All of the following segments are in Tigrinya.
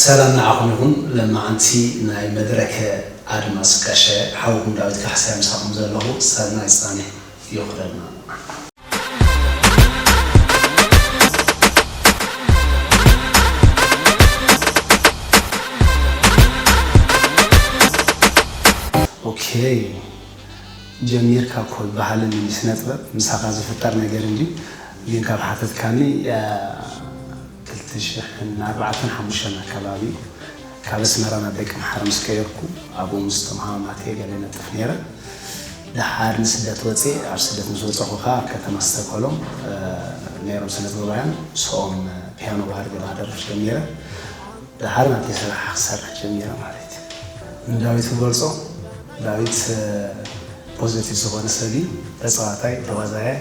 ሰላም ንዓኹም ይኹን ለማዓንቲ ናይ መድረከ ኣድማስ ቀሸ ሓውኩም ዳዊት ካሕሳይ ምሳኹም ዘለኹ ሰናይ ጻኒሕ። ይኹነልና። ኦኬ ጀሚርካ እኮ ባህልን ስነጥበብ ምሳኻ ዝፍጠር ነገር እንድዩ ግን ካብ ሓተትካኒ ክልተ ሽሕን ኣርባዕተን ሓሙሽተን ኣከባቢ ካብ ኣስመራ ናብ ደቀምሓረ ምስ ከየድኩ ኣብኡ ምስ እቶም ሃማማተይ ገለ ነጥፍ ነይረ። ደሓር ንስደት ወጼ። ኣብ ስደት ምስ ወጸኹ ከኣ ኣብ ከተማ እስተኮሎም ነይሮም ስነጥበባውያን ምስኦም ፒያኖ ባህር ግርማ ኣደርፍ ጀሚረ። ደሓር ናተይ ስራሕ ክሰርሕ ጀሚረ ማለት እዩ። ንዳዊት ክገልጾ ዳዊት ፖዘቲቭ ዝኾነ ሰብ እዩ። ተጻዋታይ፣ ተዋዛያይ፣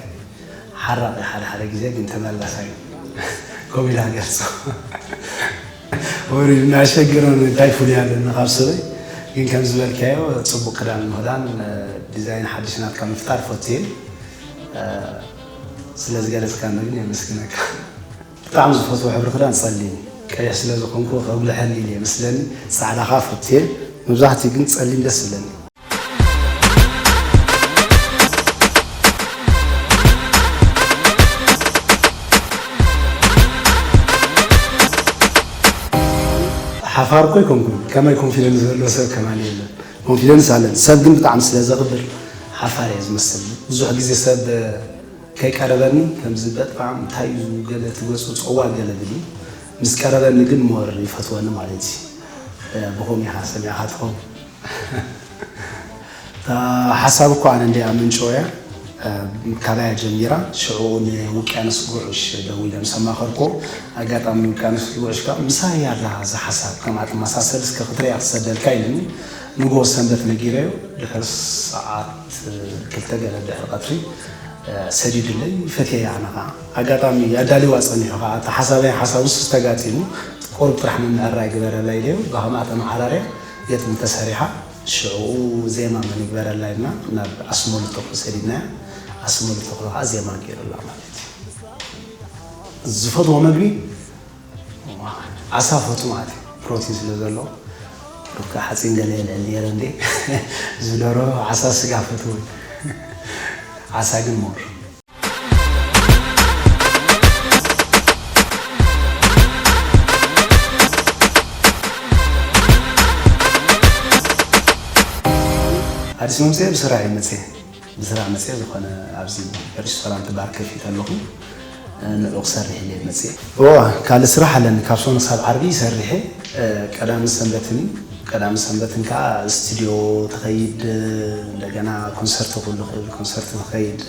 ሓራቒ ሓደ ሓደ ግዜ ግን ተመላሳይ ከምኡ ኢላ ገልጾ ወሪዱ እናሸገሮ እንታይ ፍሉይ ኣለኒ ካብ ሰበይ ግን ከም ዝበልካዮ ጽቡቅ ክዳን ምህዳን ዲዛይን ሓድሽ ናትካ ምፍጣር ፈትየ ስለ ዝገለጽካኒ ግን የመስግነካ ብጣዕሚ ዝፈትዎ ሕብሪ ክዳን ጸሊም ቀይሕ ስለ ዝኾንኩ ከጉልሐኒ ኢለ ይመስለኒ ጻዕዳ ከኣ ፈትየ መብዛሕትኡ ግን ጸሊም ደስ ይብለኒ። ሓፋር እኮ ኣይኮንኩን ከማይ ኮንፊደንስ ዘሎ ሰብ ከማን የለን ኮንፊደንስ ኣለን ሰብ ግን ብጣዕሚ ስለ ዘኽብር ሓፋር እየ ዝመስል ብዙሕ ግዜ ሰብ ከይቀረበኒ ከምዚ በጣም እንታይ እዩ ገለ ትገጹ ጸዋ ገለ ብሊ ምስ ቀረበኒ ግን ሞር ይፈትወኒ ማለት እዩ ብኾም ኢኻ ሰሚዕኻ ትኸውን ሓሳብ እኮ ኣነ እንድየ ኣመንጭወያ ካባያ ጀሚራ ሽዑ ንውቅያኖስ ጉዕሽ ደዊለ ምስ ኣማኸርክዎ ኣጋጣሚ ውቅያኖስ ጉዕሽ ከኣ ምሳይ እያ እዛ እዛ ሓሳብ ከምኣ ትመሳሰል እስከ ክትርእያ ክሰደልካ ኢሉኒ ንግሆ ሰንበት ነጊረዮ ድሕሪ ሰዓት ክልተ ገለ ድሕሪ ቀትሪ ሰዲዱለይ ፈትየያ ኣነ ከኣ ኣጋጣሚ ኣዳሊዋ ጸኒሑ ከኣ እቲ ሓሳበይ ሓሳቡስ ተጋጢሙ ቁሩብ ጥራሕ ምምዕራይ ግበረላ ኢለዮ ብከምኣ ተመዓራርያ ግጥሚ እንተሰሪሓ ሽዕኡ ዜማ መን ይግበረላ ኢልና ናብ ኣስመሉ ተኽሉ ሰዲድናያ ኣስመሉ ተኽሉ ከኣ ዜማ ጌሩላ ማለት እዩ። ዝፈትዎ መግቢ ዓሳ ፈቱ ማለት እዩ ፕሮቲን ስለ ዘለዎ ሩካ ሓጺን ገለ የልዕል ነይረ እንዴ ዝደሮ ዓሳ ስጋ ፈትው ዓሳ ግን ሞር ኣዲስ መምፅኤ ብስራሕ እዩ መፅኤ ብስራሕ መፅኤ ዝኾነ ኣብዚ ሬስቶራንት ባር ከፊት ኣለኹ ንዕኡ ክሰርሕ እየ መፅኤ ካልእ ስራሕ ኣለኒ ካብ ሶኒ ሳብ ዓርቢ ይሰርሕ እየ ቀዳምን ሰንበትን እዩ ቀዳምን ሰንበትን ከኣ ስቱድዮ ትኸይድ እንደገና ኮንሰርቶ ክህሉ ይኽእል ኮንሰርቶ ትኸይድ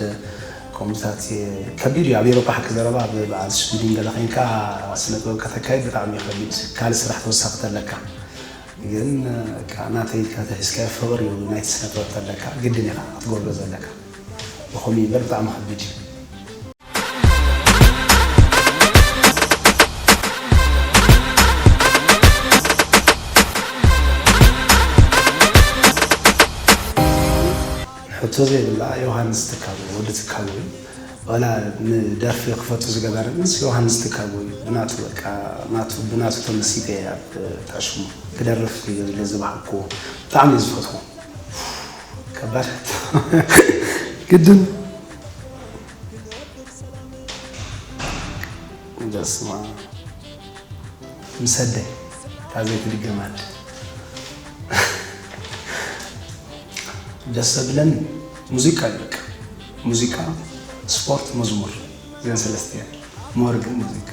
ከምኡታት ከቢድ እዩ ኣብ ኤሮፓ ሓቂ ዘረባ ኣብ በዓል ሽዊድን ገለ ዄንካ ስነ ጥበብ ከተካይድ ብጣዕሚ እዩ ከቢድ ካልእ ስራሕ ተወሳኺ ተለካ ግን በቃ ናተይ ኢልካ ተሒዝካዮ ፍቕሪ እዩ ናይቲ ስነ ጥበብ ተለካ ግድን ኢኻ ክትገብሮ ዘለካ ብኸምኡ እዩ እምበር ብጣዕሚ ከቢድ እዩ። ሕቶ ዘይብላ ዮሃንስ ትካቦ ወዲ ትካቦ እዩ ዋላ ንደርፊ ክፈቱ ዝገበረንስ ዮሃንስ ትካቦ እዩ ብናቱ በቃ ናቱ ብናቱ ተመሲጠ እየ ኣብ ታሽሙ ክደርፍ ክይገዝለ ዝባሃኩዎ ብጣዕሚ እዩ ዝፈትዎ ከባድ ሕቶ ግድን በስመኣም ምስ ኣደይ እታ ዘይትድገም ኣደ ደስ ዘብለኒ ሙዚቃ እዩ በቃ ሙዚቃ ስፖርት መዝሙር እዘን ሰለስተ እየን ሞር ግን ሙዚቃ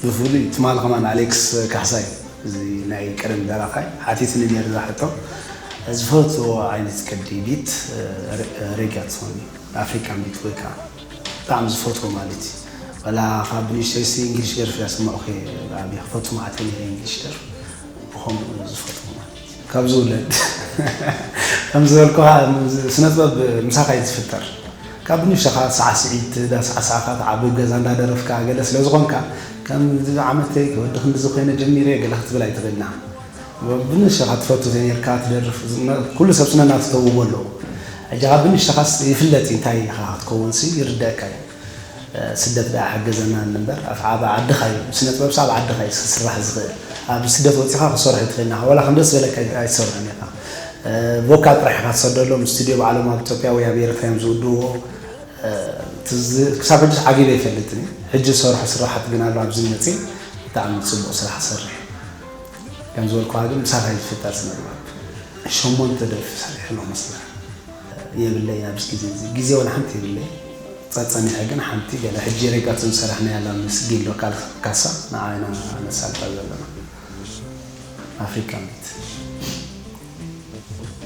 ብፍሉይ ትማሊ ከማን ኣሌክስ ካሕሳይ እዚ ናይ ቀደም ደራፋይ ሓቲትኒ ነይሩ እዛ ሕቶ ዝፈትዎ ዓይነት ቅዲ ቢት ሬግያ ትኸውን ኣፍሪካን ቢት ወይ ከዓ ብጣዕሚ ዝፈትዎ ማለት እዩ ዋላ ካብ ንእሽተይሲ እንግሊሽ ደርፊ እያ ሰማዑኪ ብዓብይ ክፈቱ መዓት እየ ነይረ እንግሊሽ ደርፊ ብከምኡ ዝፈትዎ ማለት እዩ ካብ ዝውለድ ከም ዝበልኩካ ስነጥበብ ምሳካ እዩ ዝፍጠር ካብ ንእሽተካ ሳዕስዒት ዳሳዕሳዕካ ትዓቢ ኣብ ገዛ እንዳደረፍካ ገለ ስለዝኮንካ ከም ዓመተይ ወዲ ክንድዚ ኮይነ ጀሚረ ገለ ክትብል ኣይትክእልና ብንእሽተኻ ትፈቱ ዘይርካ ትደርፍ ኩሉ ሰብ ስነ ናቱ ተውህቦ ኣለዎ ሕጂ ካብ ብንእሽተኻስ ይፍለጥ እዩ እንታይ ኢኻ ክትከውንሲ ይርደኣካ እዩ ስደት ደኣ ሓገዘና እንበር ኣፍዓባ ዓድኻ እዩ ስነ ጥበብሲ ኣብ ዓድኻ እዩ ክስራሕ ዝኽእል ኣብ ስደት ወጺኻ ክትሰርሖ ኣይትኽእልን ኢኻ ዋላ ከም ደስ ዝበለካ ኣይትሰርሖን ኢኻ ቮካል ጥራሕ ኢኻ ትሰደሎም ስቱድዮ ባዕሎም ኣብ ኢትዮጵያ ወይ ኣብ ኤርትራ እዮም ዝውድእዎ ክሳብ ሕጂስ ዓጊበ ኣይፈልጥን እዩ ሕጂ ዝሰርሖ ስራሓት ግን ኣሎ ኣብዚ መጺ ብጣዕሚ ጽቡቕ ስራሕ ትሰርሕ ከም ዝበልኩኻ ግን ምሳኻ እዩ ዝፍጠር ስነጥበብ ሸሞንተ ደርፊ ሰሪሐ ኣለኹ ምስላ የብለይን ኣብዚ ግዜ እዚ ግዜ ወላ ሓንቲ የብለይን ጸጸኒሐ ግን ሓንቲ ገለ ሕጂ ሪከርድ ዝሰራሕናያ ኣላ ምስ ጊሎ ካሳ ንዓ ኢና ነሳልጣ ዘለና ኣፍሪካን ቢት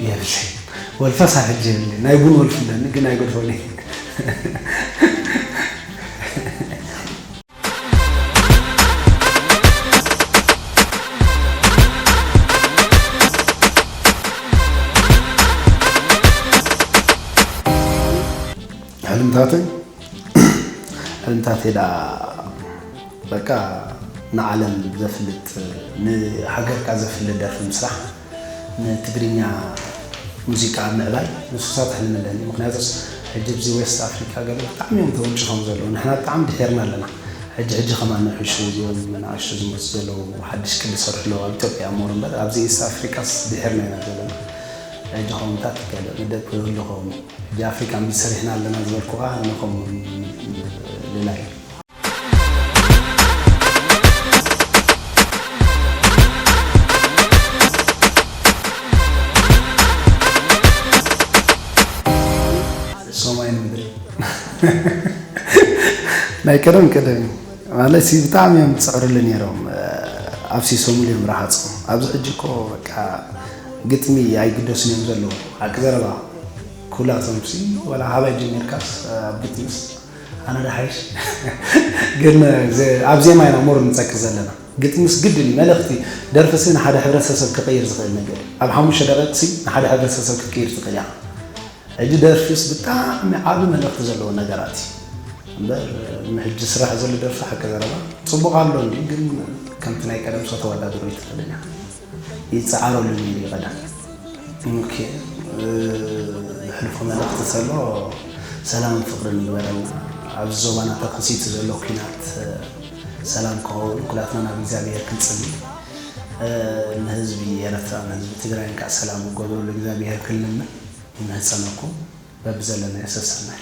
የብለይን ወልፈ ሳብ ሕጂ የብለይን ናይ ቡን ወልፊ ኣለኒ ግን ኣይገድፎን ሕልምታተይ ሕልምታተይ ዳ በቃ ንዓለም ዘፍልጥ ንሃገርካ ዘፍልጥ ደርፊ ምስራሕ ንትግርኛ ሙዚቃ ኣብ ምዕባይ ንሱ ክሰርሕ ሕልሚ ኣለኒ ምክንያቱስ ሕጂ ኣብዚ ዌስት ኣፍሪቃ ገለ ብጣዕሚ እዮም ተወንጪፎም ዘለዉ ንሕና ብጣዕሚ ድሒርና ኣለና ሕጂ ሕጂ ከማን ንሕሹ እዚኦም መናእሽቱ ዝመጹ ዘለዉ ሓድሽ ቅዲ ዝሰርሑ ኣለዉ ኣብ ኢትዮጵያ ሞር እምበር ኣብዚ ኢስት ኣፍሪቃስ ድሒርና ኢና ዘለና ሕጂ ከምታት ገለ መደብ ክህሉ ከውን እዩ ሕጂ ኣፍሪቃ ምሰሪሕና ኣለና ዝበልኩካ ንከም ልላይ እዩ። ሰማይ ምድሪ ናይ ቀደም ቀደም እዩ ማለት ሲ ብጣዕሚ እዮም ዝፅዕርሉ ነይሮም ኣብ ሲሶምሉ እዮም ረሃፁ ኣብዚ ሕጂ እኮ በቃ ግጥሚ ኣይግደሱን እዮም ዘለዉ ሓቂ ዘረባ ኩላቶም ሲ ወላ ሃባይ ጀሚርካስ ኣብ ግጥሚስ ኣነ ዶ ሓይሽ ግን ኣብ ዜማ ኢና ሞር ንጸቅጥ ዘለና ግጥምስ ግድን እዩ መልእክቲ ደርፍሲ ንሓደ ሕብረተሰብ ክቅይር ዝክእል ነገር እዩ ኣብ ሓሙሽተ ደቂቅሲ ንሓደ ሕብረተሰብ ክትቅይር ትክእል ኢካ ሕጂ ደርፊስ ብጣዕሚ ዓቢ መልእክቲ ዘለዎ ነገራት እዩ እምበር ንሕጂ ዝስራሕ ዘሎ ደርፊ ሓቂ ዘረባ ጽቡቅ ኣሎ እንድዩ ግን ከምቲ ናይ ቀደምሲ ከተወዳድሮ ኣይትክእልን ኢካ ይጸዓረሉ ነይሩ እዩ ቀደም እንኴ ዘሕልፎ መልእኽቲ ተሎ ሰላምን ፍቕርን ይግበረልና ኣብዚ ዞባና ተኸሲቱ ዘሎ ኲናት ሰላም ክኸውን ኩላትና ናብ እግዚኣብሔር ክንጽሊ ንህዝቢ ኤረትራ ንህዝቢ ትግራይን ከዓ ሰላም ክገብረሉ እግዚኣብሔር ክንልምን ይምህጸነኩም በብዘለናዮ ሰሰናዩ